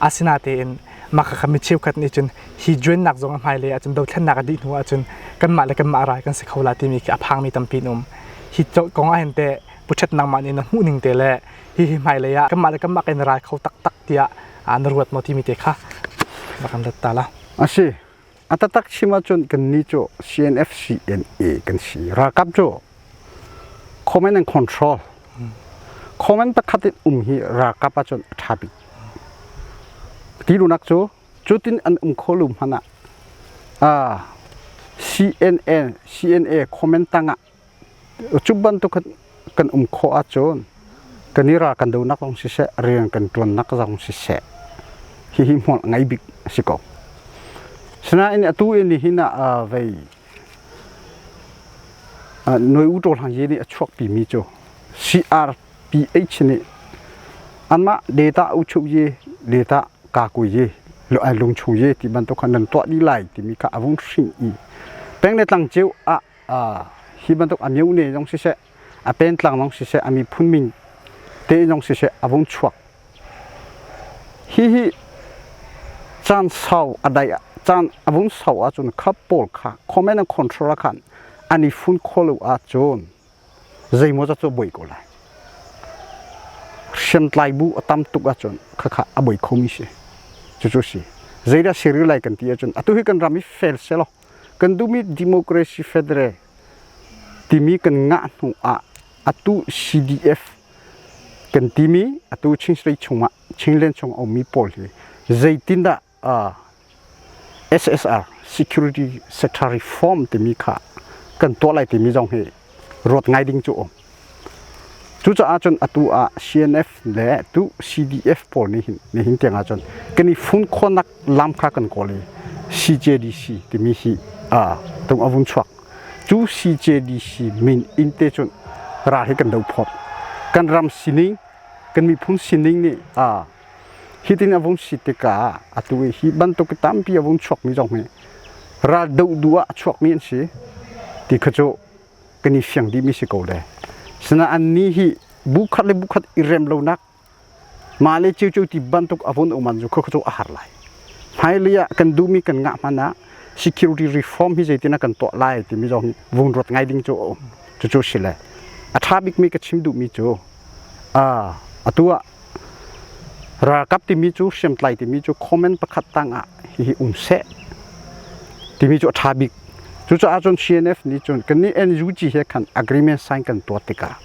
asinatein maka kami cheukhat nih cun hi joinnak zong a hmailei ahcun dothlennak a dih hnu ahcun kanmah le kanmah rai kan si kho la timi khi a phangmi tampi in um hi kong ahhin te puchet nangmah nih na hmuh ning te le hihi hmailei ah kanmah le kanmah kan rai kho taktak tiah na ruat maw timi te kha bak an rat ta la a si A tatak chim ahcun kannih cu CNFCNA kan si. Ralkap cu comment and control comment pakhat in um hi ralkap ahcun a ṭha bik. Ti lunak cu cutin an um kho lu hmanh ah ah, CNN, CNA comment tangah Cu bantuk kan um khawh ahcun kan i ral kan donak zong siseh, rian kan ṭuannak zong siseh, hihi hmual ngai bik a si ko. Sinain atu in nihin ah vei Noi U Ṭaw Hlang Ye nih a chuak timi cu CRPH nih anmah data uchuh ye, data kakui ye, lungchu ye ti bantuk khan nan tuah dih lai timi kha a vun hrin i peng le tlang ceu ah hi bantuk a myohne zong siseh a pentlang zong siseh a miphun min te zong siseh a vung chuak hi hi caan sau a dai caan a vung sau ahcun kha pawl kha comment and control khan an i fun kholo ahcun zeimaw za cu boi ko lai hriamtlai bu a tam tuk ahcun khakha a boi khomi si cucu si zeidah serial lai kan ti ahcun atu hi kan ram hi fel se law Kan duhmi Democracy Federal timi kan ngah hnu ah atu CDF kan timi atu Chinstrei chung ah Chinland chung a ummi pawl hi zeitindah uh, SSR Security Secretary Form timi kha kan tuah lai timi zong hi ruat ngai ding cu um. Cucaah cun atu ah CNF le tu CDF pawl nih hin nihin tiang ah cun kan i fun khawhnak lam kha kan kawl i CJDC timi hi tung a vun chuak. Cu CJDC min in te cun ral hi kan do phawt. Kan ram sining, kan miphun sining nih hi tin a vun si tikah atu i hi bantuk i tampi a vun chuakmi zong hi ral doh duh ah chuakmi an si ti kha cu kan i fiang dihmi si ko le sina annih hi bukhat le bukhat i rem lonak mah le ceu ti bantuk avon uman zu kho chu a har lai hmailei ah kan duhmi kan ngah hman ah security reform hi zeitina kan tuah lai timi zong vung ruat ngai ding cu a um cucu si le a tha bikmi ka chim duhmi cu a atu ah Ralkap timi cu hriamtlai timi cu comment pakhat tangah hihi um seh timi cu a ṭha bik cucaah cun CNF nih cun kan nih NUG he khan agreement sign kan tuah tikah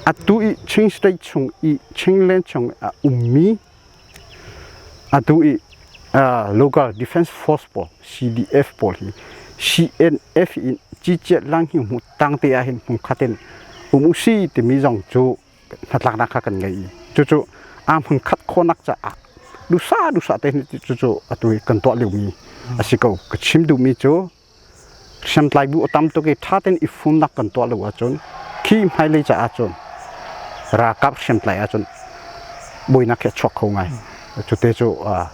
atu i Chin state chung i Chinland chung a ummi atu i local defense force pawl CDF pawl hi CNF in ciciat lang hi hmu tangte ah hin hmu khatin um u si timi zong cu hnatlaknak kha kan ngei i cucu aa hmangkhat khawnak caah dusa dusa te cucu atu i kan tuah liomi a si ko ka chim duhmi cu hriamtlai bu a tam tuk i ṭha tein i fumnak kan tuah lo ahcun khi hmailei caah cun ralkap hriamtlai ahcun buainak hi a chuak kho ngai cute cu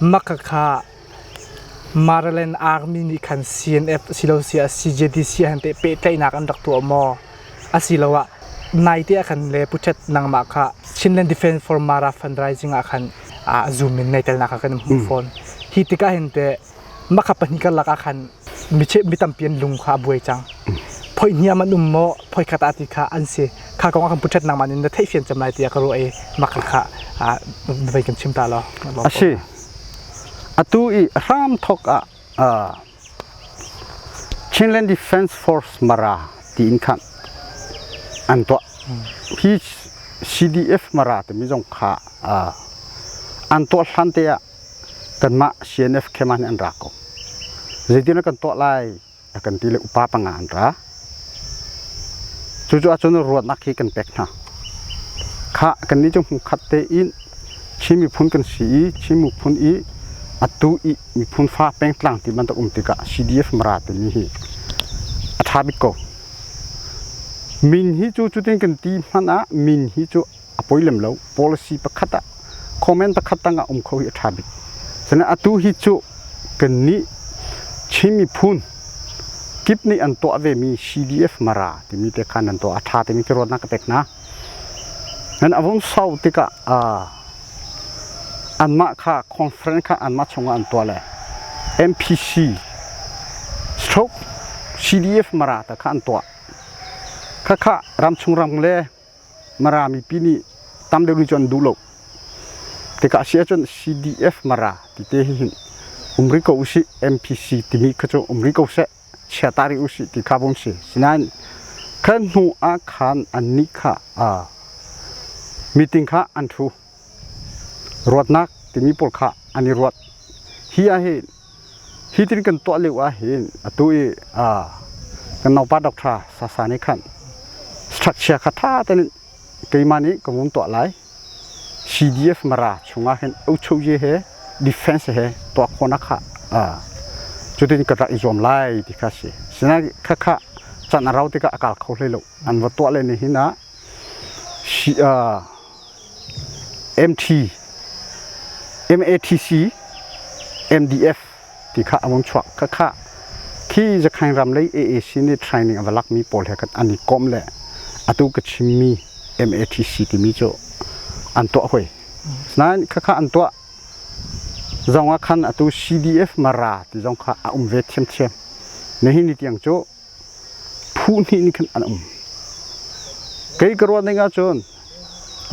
Makhakha Maryland Army nih khan CNF asiloah CJDC ah hin teh pehtlaihnak an rak tuah maw? Asiloah naite ah khan le puṭhet nangmah kha Chinland Defense for Mara Fundraising ah khan aa zum in naitelnak kha kan hmuh fawn. Hi tikah hin teh Maka pahnih kan lak ah khan mi tampi an lung kha a buai cang. Phoi hniam an um maw? Phoi khat ah ti kha an si. Kha kong ah kan puṭhet nangmah in na theihfian cem lai tiah ka ruah i maka kha na vai kan chim ta law. A si. Atu i hram thok ah Chinland Defence Force Mara tiin khan an tuah. Hi CDF Mara timi zong kha an tuah hlan te ah kanmah CNF camp ah nih an ra ko zeitin a kan tuah lai a kan ti le upa panga an ra cucu ahcun ruahnak hi kan pek hna kha kannih cu hmu khat tein Chin miphun kan si i Chin miphun i atu i miphun fa pengtlang ti bantuk um tikah CDF mara timi hi a ṭha bik ko min hi cu cutin kan ti hmanh ah min hi cu a poi lem lo policy pakhat ah comment pakhat tang ah um kho hi a tha bik cunain atu hi cu kan nih Chin miphun kip nih an tuah ve mi CDF mara timi te khan an tuah a tha timi ti ruatnak ka pek hna nan a vung sau tikah anmah kha conference kha anmah chungah an tuah le MPC stroke CDF mara ta kha an tuah khakha ramchung ram le Mara mipi nih tam deuh nih cun an duh lo. Tikah a si ahcun CDF Mara tite hi hin um rih ko usih, MPC timi kha cu um rih ko seh, chia ta rih usih ti kha bawm si. Sinain khan hnu ah khan annih kha meeting kha an thu. Ruatnak timi pawl kha an i ruat. Hi ahhin hi tin kan tuah lio ahhin atu i kan naupa doctor Sasa nih khan structure kha ṭha tein keimah nih ka vung tuah lai. CDF Mara chungah hin uchoye he defense he tuah khawhnak kha cutin ka rak i zuam lai ti kha si. Sinain khakha can a rau tikah a kal kho hlei lo. An va tuah le nihin ah MATC MDF ti kha a vung chuak. Khakha khi Zakhain ram lei AAC nih training a va lakmi pawl he khan an i kom le atu ka chimmi MATC timi cu an tuah hoi. Nain khakha an tuah zong ah khan atu CDF Mara ti zong kha a um ve thiamthiam. Nihin ni tiang cu Huhnih nih khin an um. Kei ka ruah ning ahcun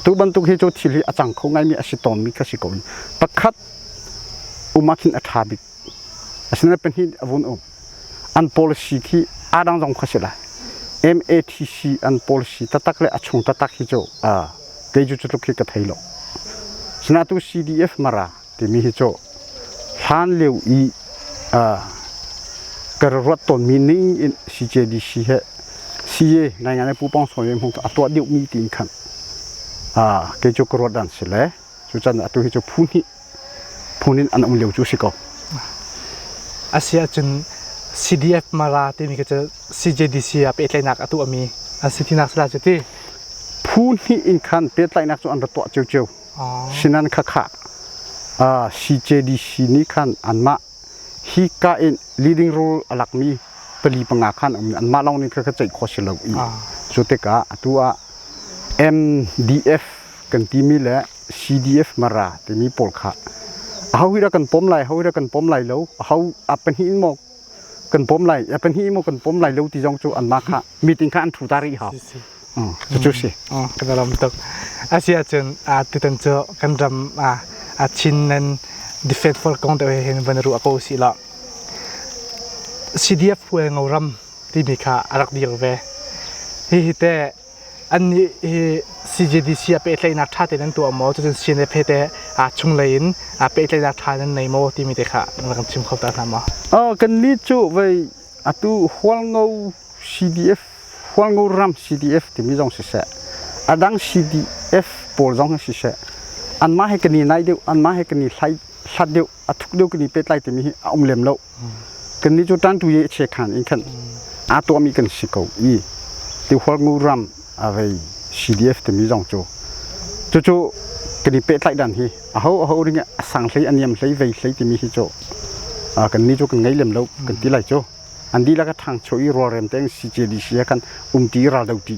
tu bantuk hi cu thil hi a cang kho ngaimi a si tawnmi ka si ko. Pakhat um ahkhin a ṭha bik. Asinain pahnih a vun um. An policy khi aa dang zong kha si lai. MATC an policy taktak le a chung taktak hi cu keiju cu tluk hi ka thei lo. Sina tu CDF mara timi hi cu hlan lio i ka ruat tawnmi ning in CJDC he CA ngaingai Pu Pong Sawi hmung a tuah deuhmi tiin khan kei cu ka ruat an si le cucan atu hi cu phu hnih phun in an um lio cu si ko. Asiahcun CDF Mara timi cu CJDC ah pehtlainak a tuahmi a si tinak sila cu ti. Phu hnih in khan pehtlainak cu an ra tuah ciocio. Sinan khakha CJDC nih khan anmah hi ka in leading rule a lakmi pali panga khan um anmah lawng nih ka ceih kho si lo i cu tikah atu ah MDF kan timi le CDF mara timi pawl kha aho hi dah kan pom lai aho hi dah kan pom lai lo aho a pahnih in maw kan pom lai ya pahnih mo kan pom lai lo ti zong cu an mah kha meeting kha an thu ta rih ha cu cu si kan ram tuk asi ahcun tutan cu kan ram a chin nan defense for kong te hin van ru ako si la CDF hual ngo ram ti mi kha a rak dil ve hi hi te Annih hi CJDC ah pehtlaihnak ṭha tein an tuah maw? Cucun CNFP te chunglei in pehtlaihnak ṭha in an nei maw timi te kha rak in chim kho ta hna maw? Kan nih cu vei atu Hualngo CDF Hualngo ram CDF timi zong siseh, a dang CDF pawl zong hi siseh, anmah he kan i naih deuh, anmah he kan i hlat deuh, a thuk deuh kan i pehtlai timi hi a um lem loh. kannih cu tan tu ye che khan in khan a tuahmi kan si ko i ti hual ngu ram a rei CDF timi zong cu cucu kan i pehtlaih dan hi a ho a ho ring a sang hlei a niam hlei vei hlei timi hi cu kan ni cu kan ngei lem lo kan ti lai cu an dihlak a thang cho i rualrem tein CJDC ah khan um ti raldo ti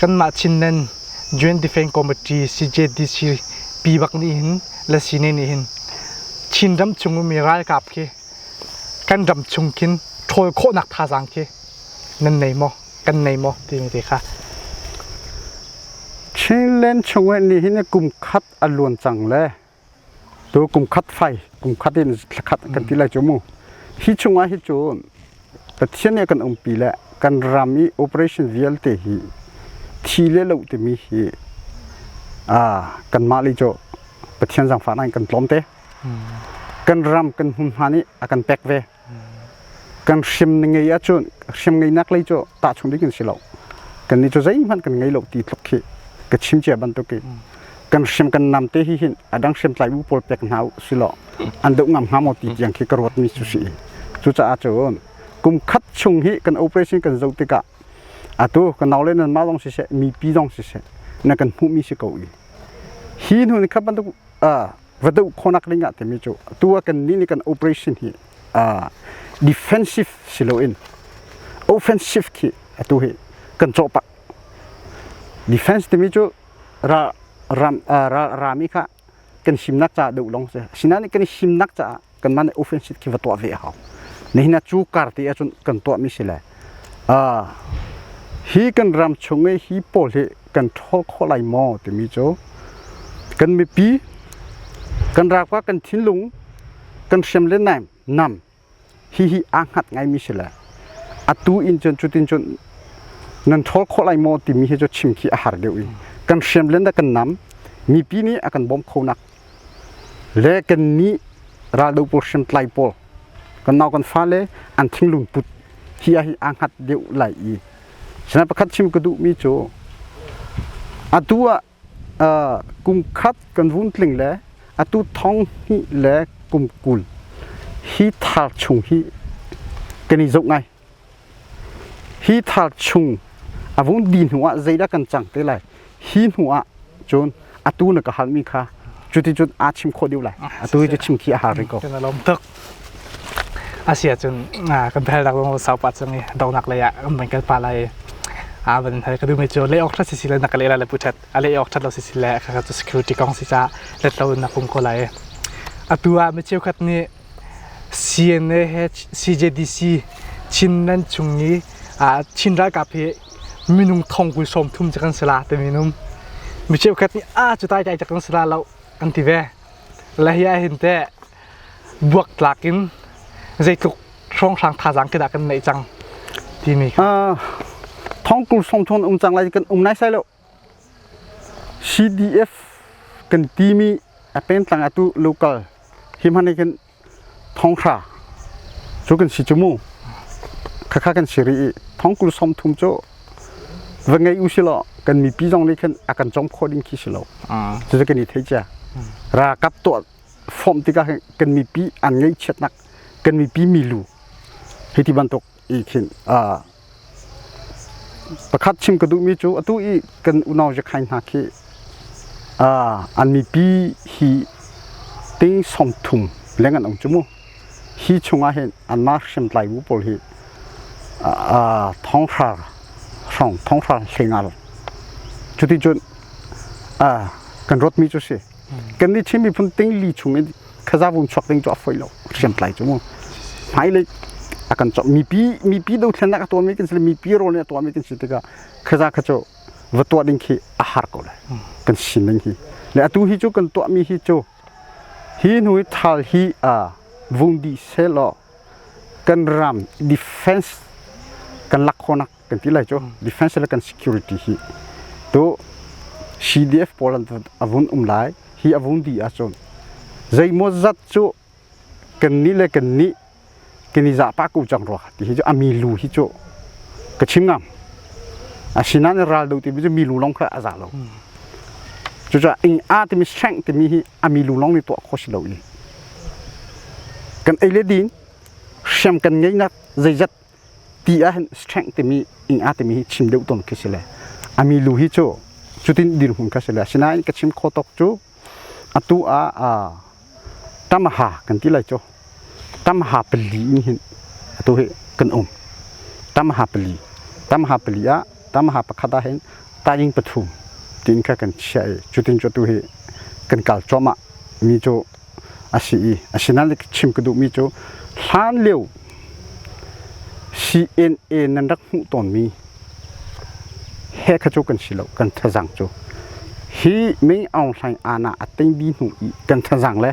Kanmah Chinland Joint Defence Committee CJDC pi bak nih hin le sine nih hin Chinram chung ummi ralkap khi kan ram chung khin ṭhawl khawhnak thazaang khi nan nei maw kan nei maw timi te kha Chinland chungah nihin kum khat a luan cang le Cu kum khat fai, kum khat in thla khat kan ti lai cu mu. Hi chungah hi cu Pathian nih kan umpi le kan ram i operation vialte hi thi le lo timi hi aa kanmah le cu Pathian zangfahnak in kan tlawm te. Kan ram kan hmunhma nih a kan pek ve. kan hrim na ngei ahcun hrim ngeinak lei cu tahchung dik in si lo kan nih cu zeihmanh kan ngei lo ti tluk khi ka chim cia bantuk i kan hrim kan nam te hi hin adang hrim tlai bu pawl pek hna si lo an deuh ngam hnga maw ti tiang khi ka ruat mi cu si cucaah cun kum khat chung hi kan operation kan zoh tikah atu kan nau le nan ma zong siseh mipi zong siseh na kan hmuh mi si ko ni hi hnu ni khat bantuk va doh khonak ding ah timi cu tu a kan nih nih kan operation hi uh, defensive si lo in offensive khi atu hi kan cawh pak defense timi cu ra ram uh, ra rami kha kan simnak ca doh long se sinain kan simnak caah kanmah nih offensive khi va tuah ve a hau nihin ah cu kar te ahcun kan tuahmi si le hi kan ram chung i hi pawl hi kan ṭhawl khawh lai maw timi cu kan mipi kan rakpa kan thinlung kan hriam le naim nam hi hi aa hngat ngaimi si le atu in cun cutin cun nan ṭhawl khawh lai maw timi hi cu chim khi a har deuh i kan hriam le na kan nam mipi nih a kan bawm khonak le kan nih raldo pawl hrim tlai pawl kan nau kan fale an thinglung put hi a hi a ngat deuh lai i sina pakhat chim ka duhmi cu atu ah kum khat kan vun tling le atu thong hnih le kum kul hi thar chung hi kan i zoh ngai Hi thar chung a vung di hnu ah zeidah kan cang te lai hi hnu ah cun atu na ka halmi kha cuti cun aa chim khawh deuh lai atu hi cu chim khi a har rih ko kan lawm tuk asia cun kan phel dak lung sau pa chung i donak lei ah an van kal pa lai a van hal ka dume cu le ok that si le nak le le puchet a le ok that lo si le ka tu security kong si cha let lo na pung ko lai atu ah mi cheu khat ni CNAH/CJDC Chin nan chung i Chin ralkap hi minung thong kul sawm thum cu kan si la timi num mi cheukhat nih a cu tai tai cak kan si la lo an ti ve le hi ah hin teh buak tlak in zeitluk hrawnghrang thazaang ke dah kan neih cang timi thong kul sawm thum um cang lai kan um nai sai lo CDF kan timi a pengtlang atu local hi hmane kan thongkhra cu kan si chu mu khakha kan si ri i thongkul som thum cu va ngei u silo kan mipi zong nih khan a kan chong kho ding khi silo cucu kan i thei chia ra kap to form tikah kan mipi an ngei chiatnak kan mipi milu hi ti bantuk ihkhinh ah pakhat chim ka duhmi cu atu i kan unau zekhai hna khi an mipi hi ting song thum leng an ong cu mu hi chungah hin an ma hriam tlai bu pawl hi thonghra hrong thonghra hlengar cuti cun kan rotmi cu si kan ni Chin miphun ting li chung in khazavum chuak ding cu a foi lo hriamtlai cu mu hmai le a kan chok mipi mipi do thlen nak a tuan mi kan si mipi role a tuan mi kan si tikah khaza kha cu va tuah ding khi a har ko lai kan sin ding hi le atu hi cu kan tuah mi hi cu hi nu thal hi a vung di se law kan ram defense kan lak khonak kan ti lai cu defense le kan security hi to CDF pawl an avun um lai hi avun di ahcun zeimaw zat cu kan ni le kan ni kan i zahpa ko cang rua ti hi cu ami lu hi cu ka chim ngam asinain ral do ti cu mi lu long kha aza lo cucu ing a timi strength timi hi ami lu long ni tuah kho si lo i kan ei le din hriam kan ngei nak zeizat ti ahhin strength timi ing a timi hi chim deuh tawn khi si le a mi lu hi cu cutin dirhmun kha si le asinain ka chim kho tawk cu atu ah tamaha kan ti lai cu tamaha pali in hin atu hi kan um tamaha pali tamaha pali ah tamaha pakhat ah hin taing pathum tiin kha kan chiah i cutin cu tu hi kan kal cuahmah mi cu a si i asinain chim ka duhmi cu hlan lio CNA nan rak hmuh tawnmi he kha cu kan si lo kan thazaang cu hi Ming Aung Hlaing aana a tengbi hnu i kan thazaang le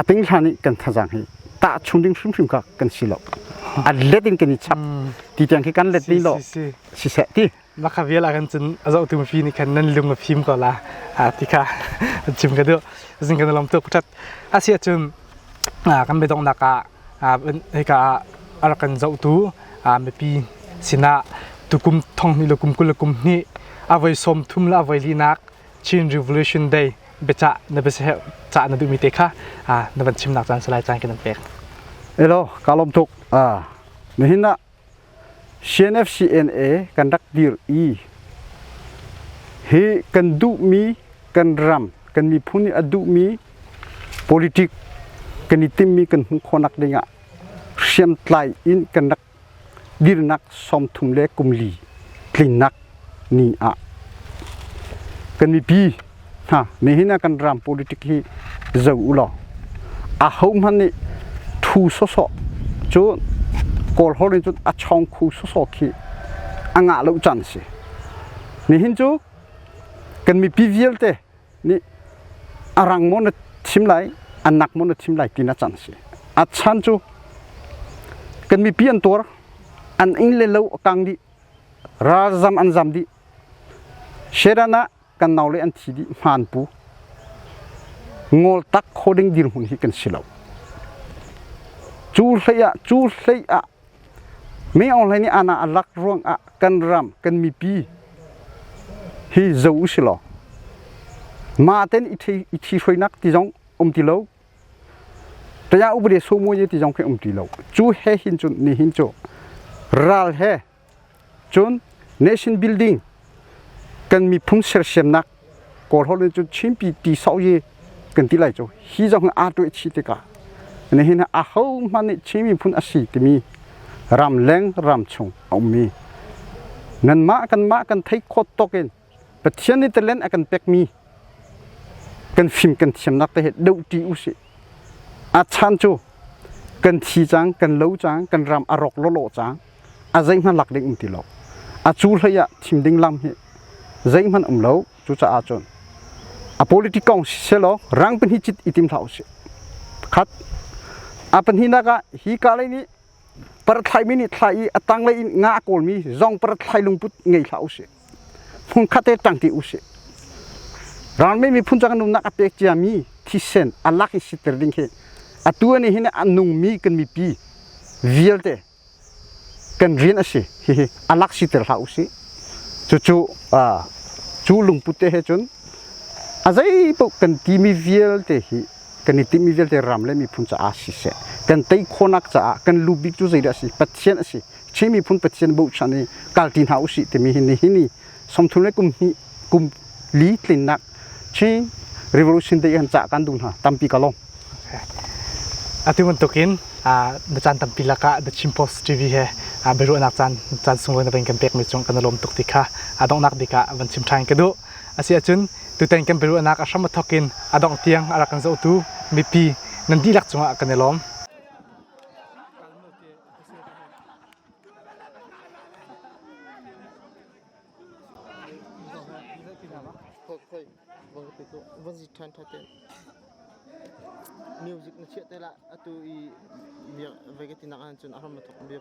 a teng hlan i kan thazaang hi tahchung ding hrimhrim kha kan si lo a let in kan i chap ti tiang khi kan let ni lo siseh ti na kha vial ah kan cun a zohtu mipi nih khan nan lung a fim ko la a ti kha chim ka duh zing kan lam tu phutat asia cun kan bedong nak ah hika ah ar kan zohtu mipi sinah tukum thong ni lukum kul lukum ni avoi som thum la avoi li nak Chin Revolution Day beca na bese ca na duhmi te kha na van chim nak caan salai caan kan pek elo kalom tuk a nihin CNFCNA kan rak dir i hi kan duhmi kan ram kan miphun nih a duhmi politik kan i timmi kan hmuh khawhnak dingah hriamtlai in kan rak dirnak sawm thum le kum li tlinnak ni ah kan mipi hna nihin ah kan ram politic hi zo u law a ho hmanh nih thu sawsawh cu kawl ho nih cun a chawng khu sawsawh khi a ngah lo can a si nihin cu kan mipi vialte nih a rang maw na thim lai a nak maw na thim lai tina can a si a chan cu kan mipi an tuar an ing le lo a kang dih Ralzam an zam dih. Shedan ah kan nau le an thi dih hmaan pu. Ngol tak kho ding dirhmun hi kan si lo. Cu hlei ah cu hlei ah me online ni ana alak ruang ah kan ram kan mipi hi zo u si law ma ten i thi hroinak ti zong um ti lo Taya Upade Somawi ti zong khi um ti lo. Cu he hin cun ni hin cu ral he cun nation building kan miphung sersiamnak kawl holh in cun Chinpi ti sau ye kan ti lai cu hi zong hi aa tuah chi tikah nihin a ho hmanh nih Chin miphun a si timi ram leng ram chung a ummi nanmah kanmah kan theih khawt tawkin Pathian nih talen a kan pekmi kan fim kan thiamnak te he dohṭi usih. A chan cu kan thi cang, kan lo cang, kan ram a rawk lawlaw cang. A zeihmanh lak ding um ti lo. A cu hlei ah thim ding lam hi zeihmanh um lo. Cucaah cun a politic kong si selaw rang pahnih cit i tim hlah usih. Pakhat. A pahnihnak ah hi ka lei nih Parthlaimi nih thlai i a tanglei in nga a kawlmi zong parthlai lungput ngei hlah usih. Hmun khat he ṭang ṭi usih. Ralme miphun cang nunnak a pek ciami thisen a lak i siter ding hi atu ni hin a nungmi kan mipi vialte kan rian a si hihi a lak siter hlah usih. Cucu cu lungput te he cun a zei paoh kan timi vialte hi kan i timhmi vialte ram le miphun caah siseh kan tei khawhnak caah kan lu bik cu zeidah a si pathian a si Chin miphun pathian bochan i kalti hna usih timi hi nihin i somthum le kum hnih kum li tlinnak Chin Revolution Day han cah kan duh hna tampi ka lawm atu bantukin na caan tampi lakah The Chin Post TV he biaruahnak caan caan sunglawi na van kan pekmi cung kan i lawm tuk ti kha donghnak bik ah van chim ṭhan ka duh Asiahcun tutan kan biaruahnak a hram a thawk in a dongh tiang a rak kan zohtu mipi nan dihlak cungah kan i lawm. music na chiah te la atu i bia vai ka tinak an cun a ram thok bia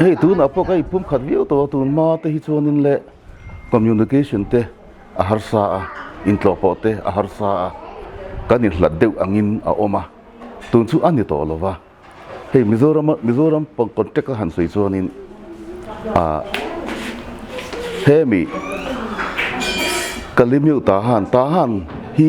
Hei tun apa kai pum khat viau to tun ma te hi chuan in le communication te a harsa a in tlo po te a harsa a kan in hlat deuh angin a oma tun chu ani to lova hei mizoram mizoram pong contact a han soi chuan in a hemi kalimeu ta han ta han hi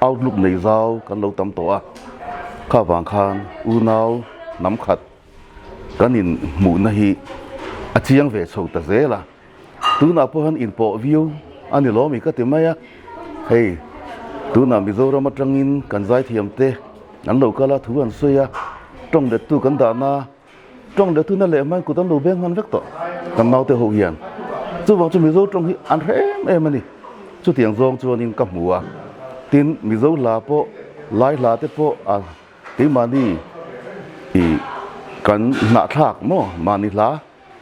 Outlook lei zau kan lo tam to a kha wang khan unau nam khat kan in mu na hi a chiang ve so ta zela tuna pawhan in po view ani lomi ka ti mai a hei tuna mizoram atangin kan zai thiam te an lo kala thu an suya tong det tu kan da na Trong le tu na le man kutam lo beng man vek to kan mau te ho hian chu bang chu mizo trong hi an rem em ani chu tiang zong chu anin ka hmu a tin mizo la po lai la te po a ti mani i kan na thlak mo mani la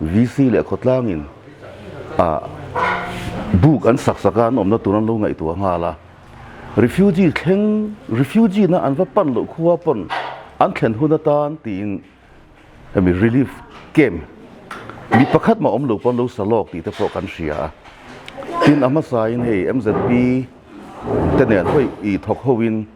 VC le khawtlang in buk an saksak a an awmna tur an lo ngaihtuah nghal a refugee thleng refugee na an va pan lo khua pon an thlen hun atan tiin emi relief camp mi pakhat ma om lo pon lo salok ti te pawh kan hria tin ahma sa in hei MZP te nen hoi i thok hoin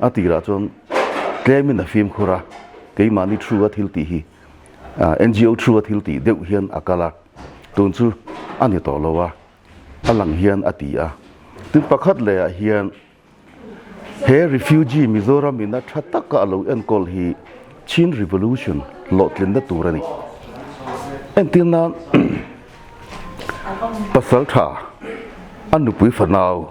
a tir ahcun claim in a fim khura keimah nih thru a thil ti hi NGO thru a thil ti deuh hian a kala tun cu ani to lo a alang hian a ti a tin pakhat le a hian he refugee mizoram in a tha taka lo enkol hi Chin Revolution lotlin na tur ani entirnan pasal tha anu pui fanau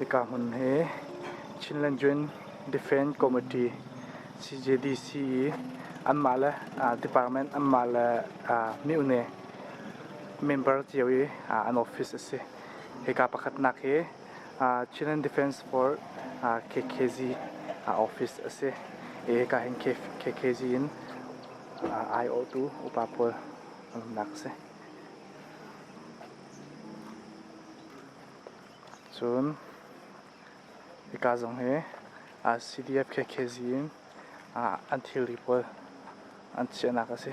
Hika hmun hi Chinland Joint Defence Committee CJDC i anmah le department anmah le mihne member cio i an office a si. Hika pakhatnak hi Chinland Defence Force KKZ office a si i Kahin KKZ in aiawhtu upa pawl an umnak a si. Cun hika zong hi CDF KKZ in an thilri pawl an chiahnak a si.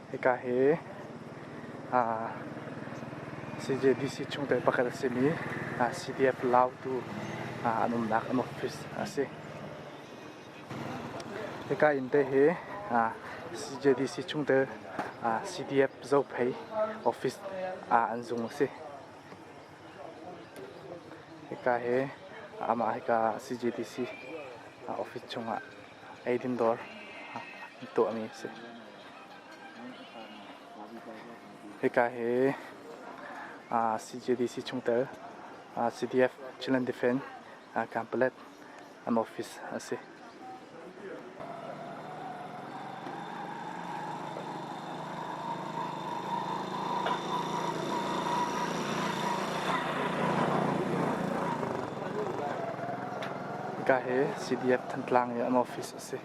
Hika hi CJDC chungtel pakhat a simi CDF Lautu an umnak an office a si. Hika innte hi CJDC chungtel CDF Zophei office an zung a si. Hika hi amah hika CJDC office chungah eidin dawr tuahmi a si. Hika hi CJDC chungtel CDF Chinland Defence Complex office a si. Hika hi CDF Thantlang office a si.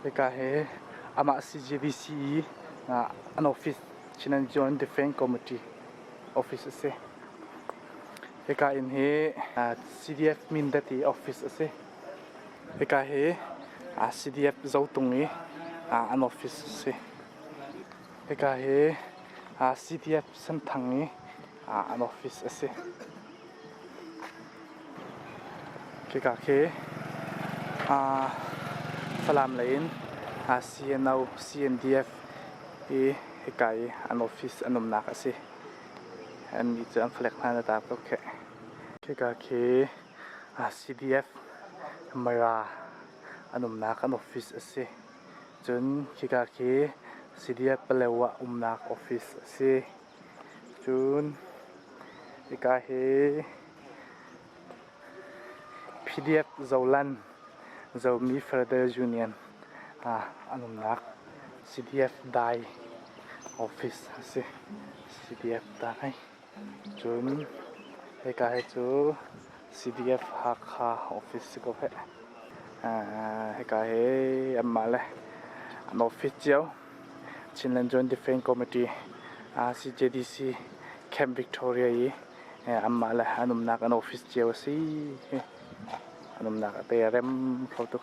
Hika hi amah CJBC an office Chin Zoan Defence Committee office a si. Hika inn hi CDF Mindat i office a si. Hika hi CDF Zotung i an office a si. Hika hi CDF Senthang i an office a si. Hika khi Falam lei in CNO, CNDF i hika i an office an umnak a si. Annih cu an flag hna na tar tuk kheh. Hika khi CDF Mara an umnak an office a si. Cun hika khi CDF Palewa umnak office a si. Cun hika hi PDF Zoland Zomi Federal Union ah an umnak CDF Dai office a si. CDF Dai. Cun hika hi cu CDF Hakha office si ko hih. Hika hi anmah le an office cio Chinland Joint Defence Committee, CJDC Camp Victoria i anmah le an umnak an office cio a si. An umnak a teirem kho tuk.